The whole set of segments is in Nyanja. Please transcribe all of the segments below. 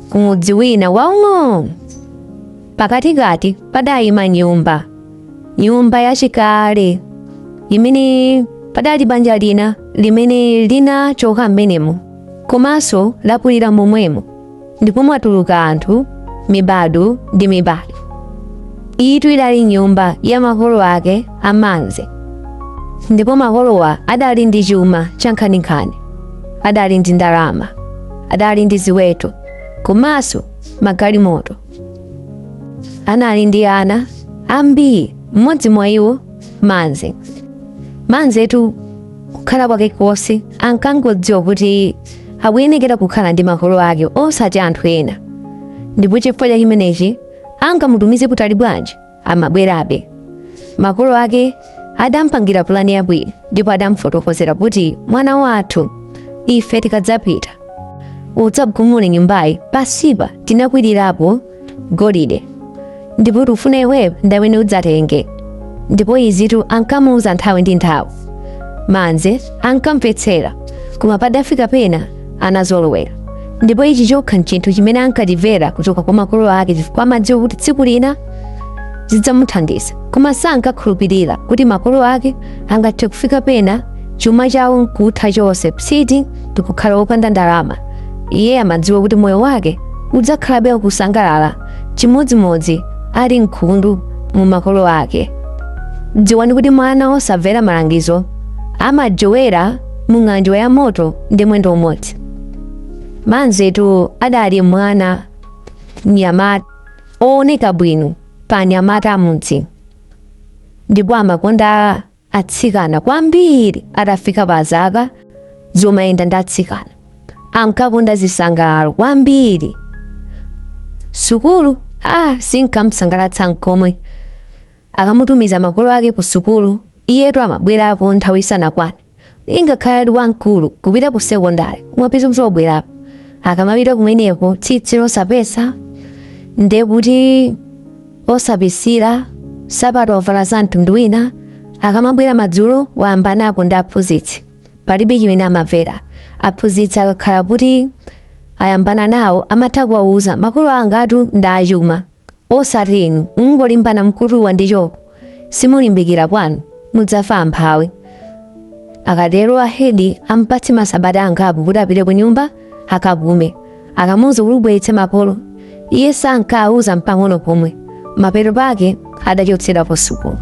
Kumudzi wina waung'ono pakatikati padayima nyumba, nyumba yachikale limene padali banja lina limene linachoka mmenemo komanso lakulira momwemo ndipo mwatuluka anthu mibadwo ndi mibadwo. Iyitu idali nyumba ya makolo ake a Manze ndipo makolowa adali ndi chuma chankhaninkhani, adali ndi ndalama. adali ndi ziweto komanso magalimoto. Anali ndi ana ambiri, mmodzi mwa iwo Manze. Manzetu kukhala kwake konse ankangodziwa kuti akuyenekera kukhala ndi makolo ake osati anthu ena, ndipo chifukwa cha chimenechi angamutumize kutali bwanji amabwerabe. Makolo ake adampangira pulani yabwino ndipo adamfotokozera kuti mwana wathu ife tikadzapita udzagumule nyumbayi pasipa tinakwirirapo golide ndipo tikufuna iweyo ndi amene udzatenge ndipo izitu ankamuuza nthawi ndi nthawi manze ankamvetsera koma padafika pena anazolowera ndipo ichi chokha nchinthu chimene ankatimvera kuchoka kwa makolo ake chifukwa amadziwa kuti tsiku lina zidzamuthandiza koma sankakhulupirira kuti makolo ake angathe kufika pena chuma chawo nkutha chonse psiti ndikukhala wopanda ndalama iye amadziwa kuti moyo wake udzakhalabe ukusangalala chimodzimodzi ali mkhundu mwa makolo ake dziwani kuti mwana osamvera malangizo amajowera mu ng'anjo ya moto ndi mwendo umodzi. Manzetu adali mwana mnyamata ooneka bwino pa anyamata amudzi ndipo amakonda atsikana kwambiri atafika pa zaka zomayenda ndi atsikana ankakonda zisangalalo kwambiri sukulu ah sinkamsangalatsa nkomwe Akamutumiza makolo ake kusukulu, iyetu amabwerako nthawi isanakwane. Ngakhale ali wamkulu, kupita kusekondale kumapeza kuti wabwerako. Akamapita kumeneko tsitsi losapesa, ndiye kuti osapisira, nsapato wavala za mtundu wina. Akamabwera madzulo wayambanapo ndi aphunzitsi. Palibe chimene amamvera. Aphunzitsi akakhala kuti ayambana nawo amatha kuwauza, Makolo angatu ndi achuma. osati inu mungolimbana mkutuwa ndi choko simulimbikira kwanu mudzafa amphawi akatero ahedi ampatse masabata angapo kuti apite ku nyumba akapume akamuuza kuti ubweretse makolo iye sankauza mpang'ono pomwe mapeto pake adachotsedwa pasukulu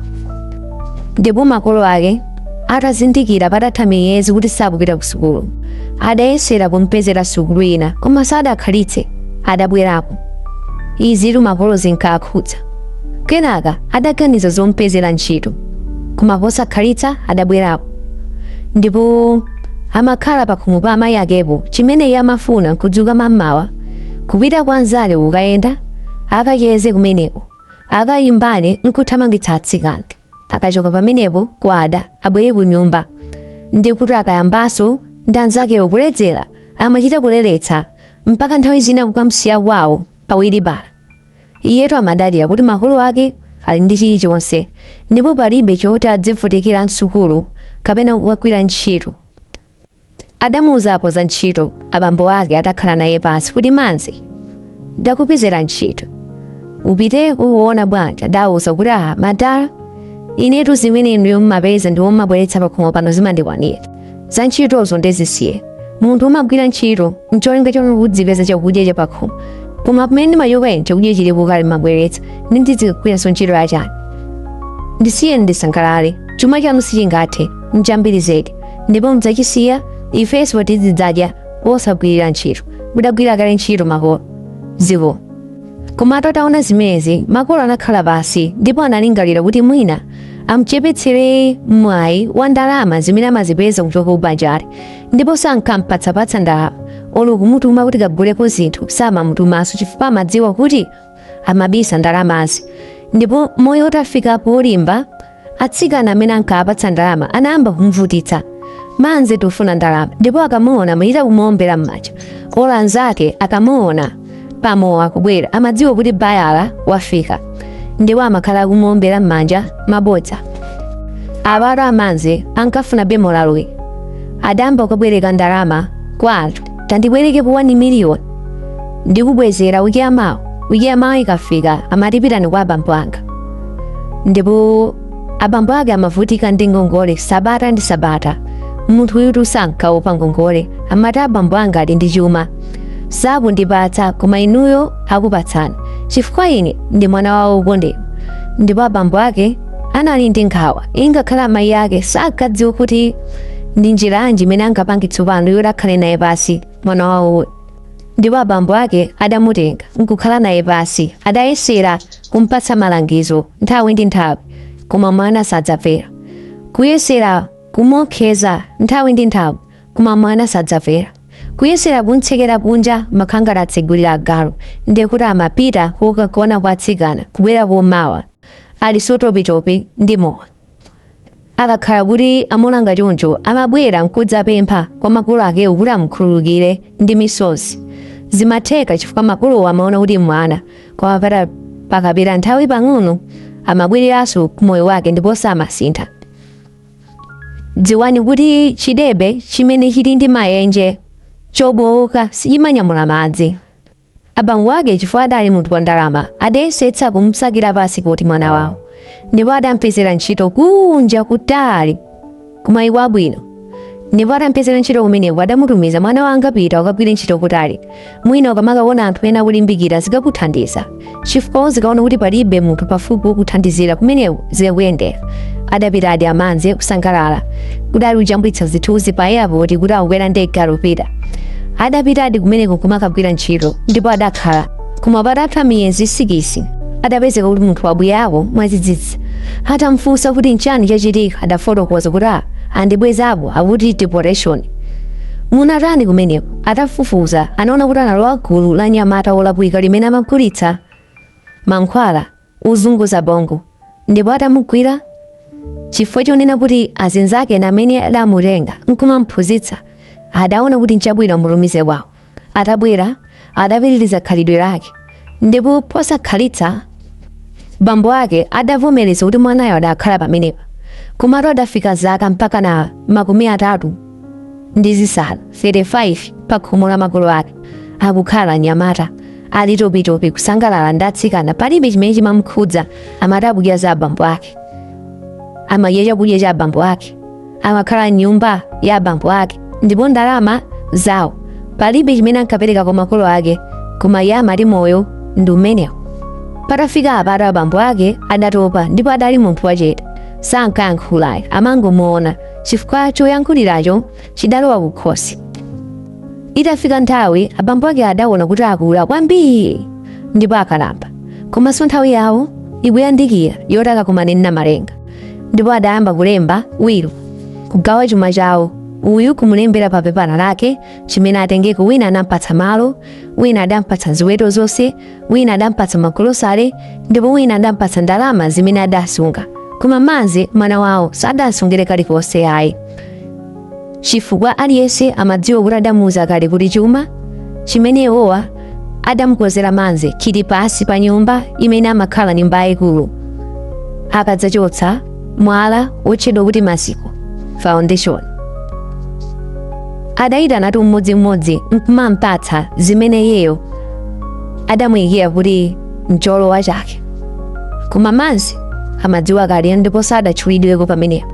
ndipo makolo ake atazindikira patatha miyezi kuti sakupita ku sukulu adayesera kumpezera sukulu ina koma sadakhalitse adabwerako izitu makolo zinkakhudza kenaka adaganiza zompezera ntchito koma posakhalitsa adabwerako ndipo amakhala pakhomo pa amayi akepo chimene iye amafuna nkudzuka mammawa kupita kwa anzake kukayenda akacheze kumeneko akayimbane nkuthamangitsa atsikana akachoka pamenepo kwada abwere ku nyumba ndi kuti akayambaso ndi anzakewo kuledzera amachita kuledzeretsa mpaka nthawi zina kukamsiya kwawo pa wiribala iyetu amadalira kuti makolo ake ali ndi chilichonse ndipo palibe choti adzivutikira msukulu kapena kukagwira ntchito Adamuuzapo za ntchito abambo ake atakhala naye pansi kuti amati ndakupezera ntchito upite ukuona bwanji adawauza kuti aha madala inetu zimene inuyo mmapeza ndi kumabweretsa pakhomo pano zimandikwanira za ntchitozo nde zisiye munthu umagwira ntchito ncholinga choti udzipeza chakudya cha pakhomo koma pamene ndimachoka ine chakudya chilipo kale mmabweretsa nde ndidzikagwiranso ntchito yachani ndisiye ndisangalale chuma chanu sichingathe nchambiri zedi ndipo mudzachisiya ifenso tizidzadya wosagwirira ntchito mudagwira kale ntchito makolo zikomo koma atataona zimenezi makolo anakhala pansi ndipo analingalira kuti mwina amchepetsere mwayi wa ndalama zimene amazipeza kuchoka m'banjali ndipo sankampatsapatsa ndalama olo kumutuma kuti kaguleko zinthu samamutumanso chifukwa amadziwa kuti amabisa ndalamazo ndipo moyo utafika polimba atsikana amene ankawapatsa ndalama anayamba kumvutitsa amvekere tufuna ndalama ndipo akamuona amuyita kumuombera m'manja olo anzake akamuona pamowa akubwera amadziwa kuti bayala wafika ndipo amakhala akumuombera m'manja mabodza abalo amanze ankafuna bambo uyu adayamba kubwereka ndalama kwa anthu tandibwerekepo 1 million ndikubwezera wiki yamawa wiki yamawa ikafika amati pitani kwa abambo anga ndipo abambo ake amavutika ndi ngongole sabata ndi sabata munthu uyutu sankaopa ngongole amati abambo anga ali ndi chuma sakundipatsa koma inuyo akupatsani chifukwa ine ndi mwana wawo wokondedwa ndipo abambo ake anali ndi nkhawa ingakhale amayi ake sankadziwa kuti ndi njira yanji imene angapange tsopano yoti akhale naye pansi mwana wawo ndipo abambo ake adamutenga nkukhala naye pansi adayesera kumpatsa malangizo nthawi ndi nthawi koma mwana sadamvera kuyesera kumuopseza nthawi ndi nthawi koma mwana sadamvera kuyesera kumtsekera kunja amakhangala atsegulira agalu ndiye kuti amapita kukagona kwa atsikana kubwera kum'mawa ali topitopi ndi mowa akakhala kuti amuna ngati choncho amabwera nkudzapempha kwa makolo akewo kuti amukhululukire ndi misozi zimatheka chifukwa makolowo amaona kuti mwana koma pakapita nthawi pang'ono amabwereranso ku moyo wake ndiponso amasintha dziwani kuti chidebe chimene chili ndi mayenje chobowoka sichimanyamula madzi Abambo ake chifukwa adali munthu wa ndalama adayesetsa kumsakira pasipoti mwana wawo ndipo adampezera ntchito kunja kutali kumayiko abwino ndipo adampezera ntchito kumeneko adamutumiza mwana wanga pita ukagwire ntchito kutali mwina ukamakaona anthu ena akulimbikira zikakuthandiza chifukwa uzikaona kuti palibe munthu pafupi wokuthandizira kumeneko zikakuyendera adapitadi anzake kusangalala kudali kujambulitsa zithunzi pa airport kuti akukwera ndege akupita adapitadi kumeneko kumakagwira ntchito ndipo adakhala koma patatha miyezi sikisi adapezeka kuti munthu wabwerako mwadzidzidzi atamfunsa kuti nchani chachitika adafotokoza kuti "Ah, andibwezapo akuti deportation munatani kumeneko Atafufuza, anaona kuti analowa gulu la anyamata wolakwika limene amagulitsa mankhwala ozunguza bongo, ndipo atamugwira chifukwa chonena kuti azinzake ena amene adamutenga nkumamphunzitsa adaona kuti nchabwino amutumize kwawo. Atabwera adapitiriza khalidwe lake ndipo posakhalitsa bambo ake adavomereza kuti mwanayo adakhala pamenepa komatu adafika zaka mpakana makumi atatu ndi zisanu 35 pa khomo la makolo ake akukhala mnyamata ali topitopi kusangalala ndi atsikana palibe chimene chimamkhudza amati akadya za abambo ake amadya chakudya cha abambo ake amakhala m'nyumba ya abambo ake ndipo ndalama zawo palibe chimene ankapereka kwa makolo ake koma iye amati moyo ndi umenewo patafika apata abambo ake adatopa ndipo adali munthu wachete sankayankhula ayi amangomuona chifukwa choyankhulacho chidalowa kukhosi itafika nthawi abambo ake adaona kuti akula kwambiri ndipo akalamba komanso nthawi yawo ikuyandikira yoti akakumane ndi namalenga ndipo adayamba kulemba wilo kugawa chuma chawo uyu kumulembera pa pepala lake chimene atengeko wina adampatsa malo wina adampatsa ziweto zonse wina adampatsa magolosale ndipo wina adampatsa ndalama zimene adasunga koma mazi mwana wawo sadasungire kalikonse ayi chifukwa aliyense amadziwa kuti adamuuza kale kuti chuma chimene iwowa adamkonzera Manze chili pansi pa nyumba imene amakhala nyumba yayikulu akadzachotsa mwala wotchedwa kuti maziko foundation adayitanatu mmodzimmodzi nkumampatsa zimene iyeyo adamuyikira kuti mcholowa chake koma Manze amadziwa kale ndipo sadatchulidweko pamenepo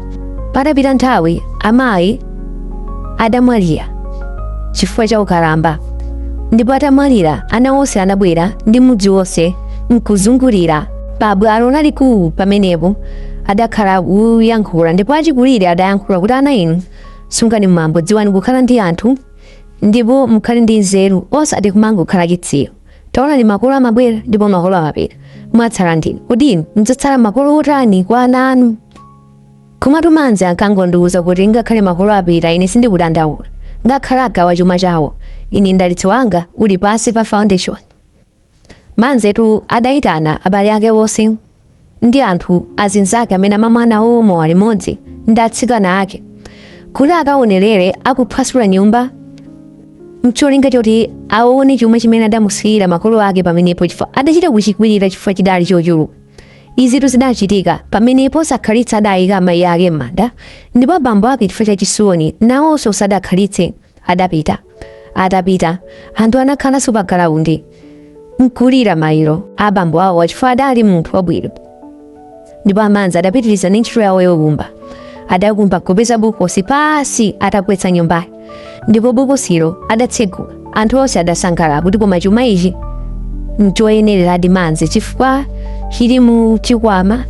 Patapita nthawi, amayi adamwalira chifukwa cha ukalamba, ndipo atamwalira ana onse anabwera ndi mudzi wonse nkuzungulira pa bwalo lalikulu pamenepo adakhala kuyankhula ndipo achikulire adayankhula kuti ana inu sungani mwambo dziwani kukhala ndi anthu ndipo mukhale ndi nzeru osati kumangokhala chitsiru Taonani makolo amabwera ndipo makolo amapita. Mwatsala ndi inu. Kodi inu mudzakhala makolo otani kwa ana anu? Komatu Manze ankangodziuza kuti ngakhale makolo apita ine sindikudandaula. Ngakhale agawa chuma chawo, ine mdalitso wanga uli pansi pa foundation. Manzetu adayitana abale ake onse ndi anthu, azinzake amene amamwa nawo mowa limodzi ndi atsikana ake kuti akaonerere akuphwasula nyumba mcholinga choti aone chuma chimene adamusiyira makolo ake pamenepo chifukwa adachita kuchikwirira chifukwa chidali chochuluka izitu zidachitika pamene posakhalitsa adayika amayi ake m'manda ndipo abambo ake chifukwa cha chisoni nawonso sadakhalitse adapita. Atapita, anthu anakhalanso pa bwalo nkulira maliro a bambo awo chifukwa adali munthu wabwino. Ndipo a Manze adapitiriza ndi ntchito yawo yokumba. Adakumba kupeza bokosi pansi atagwetsa nyumbayo, ndipo bokosilo adatsegula. Anthu onse adasangalala kuti koma chuma ichi nchoyenereradi Manze chifukwa chifukwa chili mu chikwama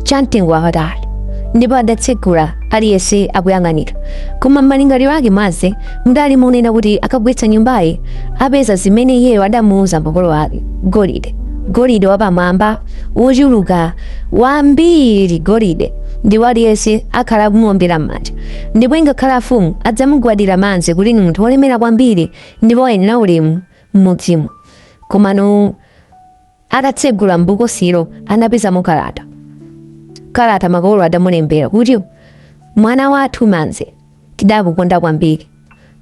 cha mtengo wapatali ndipo adatsegula aliyense akuyang'anira koma m'malingaliro ake Manze mudali kunena kuti akagwetsa nyumbayi apeza zimene iyeyo adamuuza makolo ake golide golide wapamwamba wochuluka wambiri golide ndipo aliyense akhala akumuombera m'manja ndipo ingakhale afumu adzamugwadira Manze kuti ndi munthu wolemera kwambiri ndipo ayenera ulemu m'mudzimo. Komano atatsegula m'bokosilo anapezamo kalata. Kalata makolo adamulembera kuti, Mwana wathu Manze, tidakukonda kwambiri.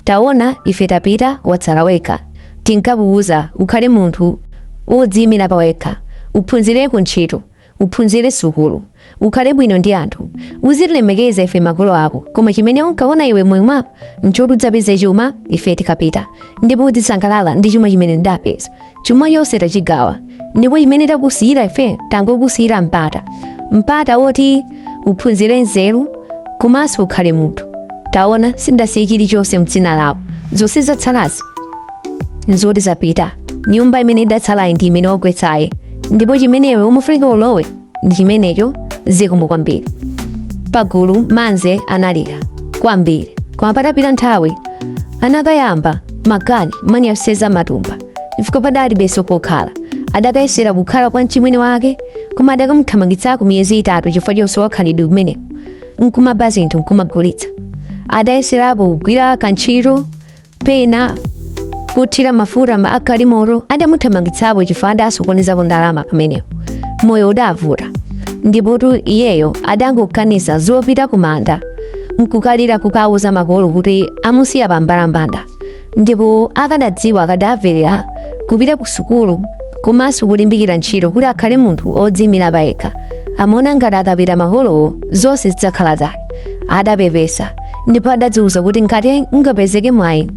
Taona ife tapita watsala wekha. Tinkakuuza ukhale munthu wodziimira pa wekha, uphunzireko ntchito. Uphunzire sukulu, ukhale bwino ndi anthu, uzitilemekeza ife makolo ako, koma chimene unkaona iwe moyo mwako nchoti udzapeze chuma ife tikapita, ndipo udzisangalala ndi chuma chimene ndapeza. Chuma chonse tachigawa, ndipo chimene takusiyira ife tangokusiyira mpata, mpata woti uphunzire nzeru komanso ukhale munthu. Taona, sindasiye chilichonse m'dzina lako, zonse zatsalazi nzoti zidapita nyumba imene idatsalayi ndi imene wagwetsayi ndipo chimene iwe umafuna ulowe ndi chimenecho zikomo kwambiri pagulu manze analira kwambiri koma patapita nthawi anakayamba makani mani aseza matumba chifukwa padali beso pokhala adakayesera kukhala kwa mchimwene wake koma adakamuthamangitsako miyezi itatu chifukwa chonse wakhalidwe kumene nkumaba zinthu nkumagulitsa adayeserapo kugwira kantchito pena kuthira mafuta m'magalimoto adamuthamangitsapo chifukwa adasokonezapo ndalama pamenepo moyo udavuta ndipotu iyeyo adangoganiza zopita kumanda nkukalira kukauza makolo kuti amusiya pambalambanda ndipo akadadziwa akadamverera kupita ku sukulu komanso kulimbikira ntchito kuti akhale munthu odziimira payekha amaona ngati akapita makolowo zonse zidzakhala zake adapepesa ndipo adadziwuza kuti ngati ungapezeke mwayi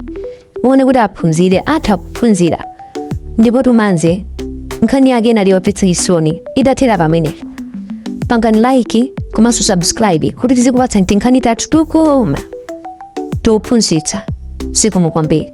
wina woti aphunzire atha kuphunzira ndipo tumanze nkhani yake inali yomvetsa chisoni idathera pamenepa pangani like komanso subscribe kuti tizikupatsa tinkhani tathu tukoma tophunzitsa zikomo kwambiri